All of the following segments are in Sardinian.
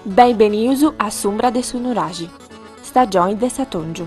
Benvenius a s'umbra de su nuraxi, stagioni de s'atòngiu.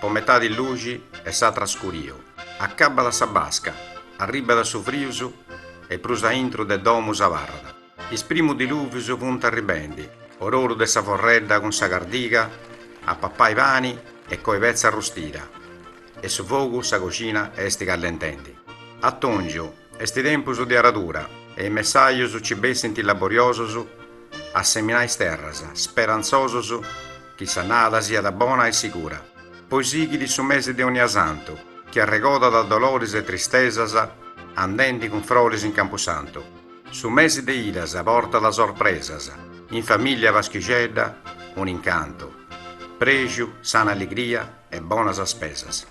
Po metadi luxi e s'atra scuriu. Acabat sa basca, arribat su frius e prus a intru de domu s'abarrat. Is primus diluvius funt arribendi, ororu de sa forredda cun sa cardiga a papai pani e coi petza arrustida e su fogu sa coxina est callentendi. Atongiu Est tempus de aradura e is messajus nci bessint laboriosus a seminai is terras, sperantzosus chi s'annada siat bona e sigura. Poi sighit su mesi de Onniasantu chi arregodat doloris e tristesas andendi cun froris in campusantu. Su mesi de idas portat sorpresas, in famìllia paschixedda un'incantu, prexu, sana alligria e bonas spesas.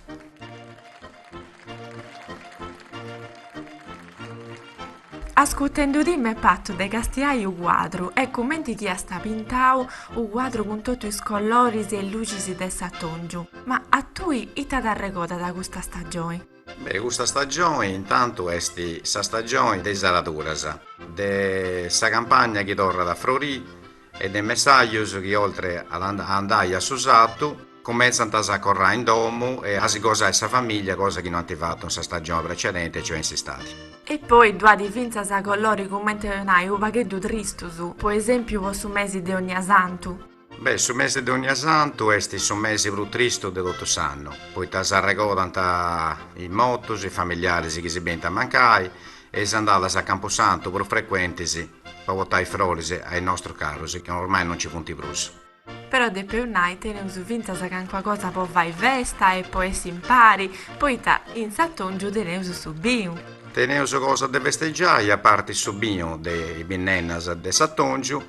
Ascutendu-ti m'est patu de castiai u cuadru e cumenti chi iast pintau u cuadru cun totu is colloris e lucis de s'atongiu. Ma a tui ita t'arregodat custa stagioni? Beh, custa stagioni intantu esti sa stagioni de is araduras, de sa campagna chi torrat a frorii e de messajus chi oltre a andai a su sartu cumentzant a s'acorrai in domu e a si gosai sa famìllia, cosa chi no ant fatu in sa stagioni precedenti e cioè in s'istadi. E poi ddu at fintzas a coloris cumenti nai unu pagheddu tristus, po esempiu po su mesi de Onniasantu. Beh, su mesi de Onniasantu est su mesi prus tristu de totu s'annu, poita s'arregodant is mortus, is familiaris chi si benint a mancai e is andadas a campusantu prus frecuentis Po potai froris a is nostrus carus chi ormai non ci funti prus. Però depeus nai teneus fintzas cancua cosa po fai festa e po essi impari, poita in s'atòngiu teneus su binu. Teneus cosa de festegiai a parti su binu de is binnennas de s'atòngiu,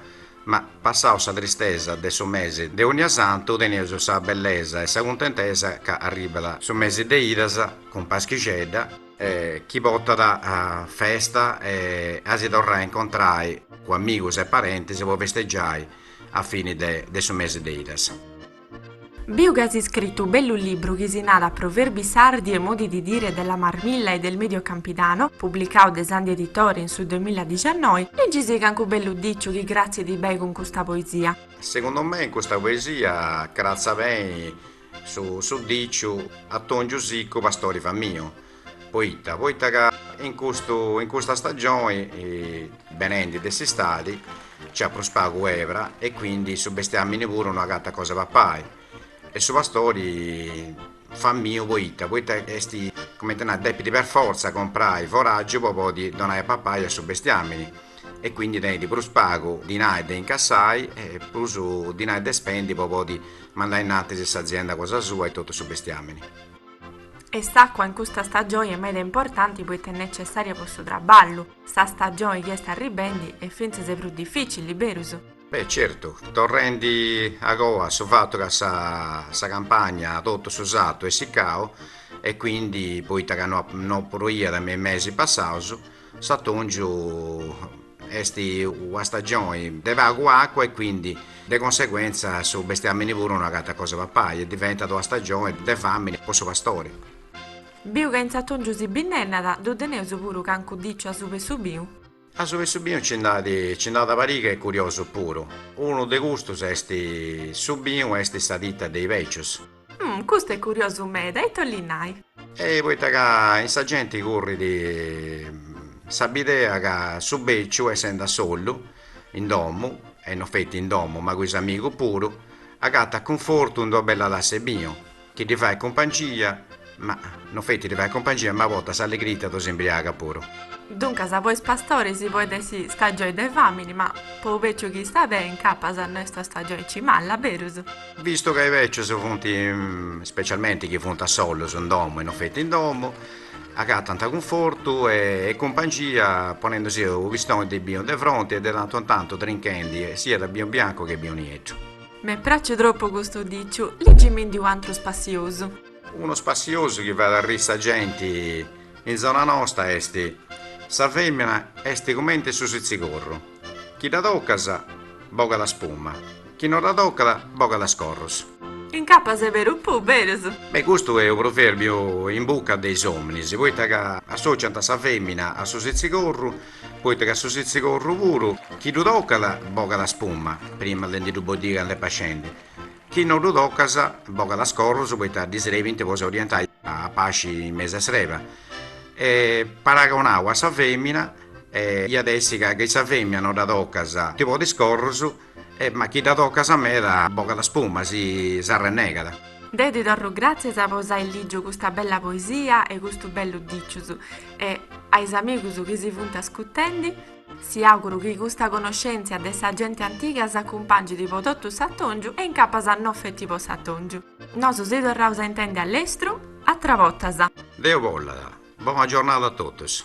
ma passau sa tristesa de su mesi de Onnia Santu teneus sa bellesa e sa cuntentesa ca arribat su mesi de idas cun paschixedda, e chi potat festa e a si torrai a incontrai cun amigus e parentis po festegiai a fini de su mesi de idas. Biu chi as iscritu u bellu libru chi si narat Proverbi sardi e modi di dire della Marmilla e del Medio Campidano, publicau de Sandi Editore in su duemiladiciannoi, ligi-sì cancu bellu diciu chi cratzit bei cun custa poesia. Segundu mei in custa poesia cratzat bei Su su diciu atòngiu sicu pastori famiu poita poita ca in custu in custa stagioni benendi de s'istadi nc'at prus pagu ebra e quindi su bestiamini puru no agatat cosa 'e papai e su pastori famiu poita poita esti comente nai depidi per forza comprai foragiu po podi donai a papai a su bestiamini e quindi tenidi prus pagu dinai de incassai e prus dinai de spendi po podi Mandai innantis s'azienda cosa sua e totu su bestiamini. E s'acua in custa stagioni est meda importanti poita est necessaria po su traballu. Sa stagioni chi est arribendi est fintzas prus dificili, berus? Beh, certu. Torrendi agoa a su fatu ca sa sa campagna totu su sartu est siccau e quindi poita ca no no proiat me i mesi passaus, S'atòngiu est una stagioni de pagu acua e quindi de conseguentza su bestiamini puru no agatat cosa papai e diventat una stagioni de famini po su pastori. Biu ca in s'atòngiu si binnennat, ddu teneus puru cancu diciu asuba 'e su biu? Asuba 'e su binu nci nd'at nci nd'at una pariga e curiosu puru. Unu de custus est su binu est sa titta de i becius. Umm, custu est curiosu meda, ita 'ollit nai? E poita ca in sa genti currit sa bidea ca su beciu essend' a sollu in domu, e no feti in domu ma cun is amigus puru, agattat cunfortu in d'una bella tassa 'e binu, chi ddi fait cumpangia Ma no feti ddi fait cumpangia, ma a bortas s'allegrita ddos imbriagat puru. Duncas po is pastoris podet essi stagioi de famini, ma po u beciu chi istat beni incapas no est stagioi aici malla, berus? Vistu ca i becius funt, specialmenti chi funt a sollus in domu e no feti in domu, agatant cunfortu e cumpangia ponendusi u pistoni de binu de fronti e de tantu in tantu trinchendi siat binu biancu che binu nieddu. M'est praciu tropu custu diciu, ligimindi un'antru spassiosu. Unu spassiosu chi fait arri sa genti in zona nosta est, sa femina est cumenti su sitzigorru, chi dda tocas bogat spuma, chi no dda tocat bogat is corrus. Incapas est veru puru berus. Beh custu est u pruverbiu in bucca de is ominis, poita ca associant sa femina a su sitzigorru, poita ca su sitzigorru puru chi ddu tocat bogat spuma, prima de ndi ddu boddì cand'est pascendi, Chi no ddu tocas bogat is corrus poita ddi srebint po s'orientai a pasci in mesu 'e s'reba. E paragonau a sa femina iat a essi ca chi sa femina no dda tocas ti ponit is corrus e ma chi dda tocas meda bogat spuma si s'arrennegat. Deu ti torru gràtzias po s'ai lìgiu custa bella poesia e custu bellu dicius e a is amigus chi si funt ascutendi. Si auguru chi custa conoscèntzia de sa gente antiga s'acumpàngit po totu s'atòngiu e in capas no feti po s'atòngiu. Nosu si torraus a intendi a lestru, atras bortas. Deu bollat. Bona giornada a totus.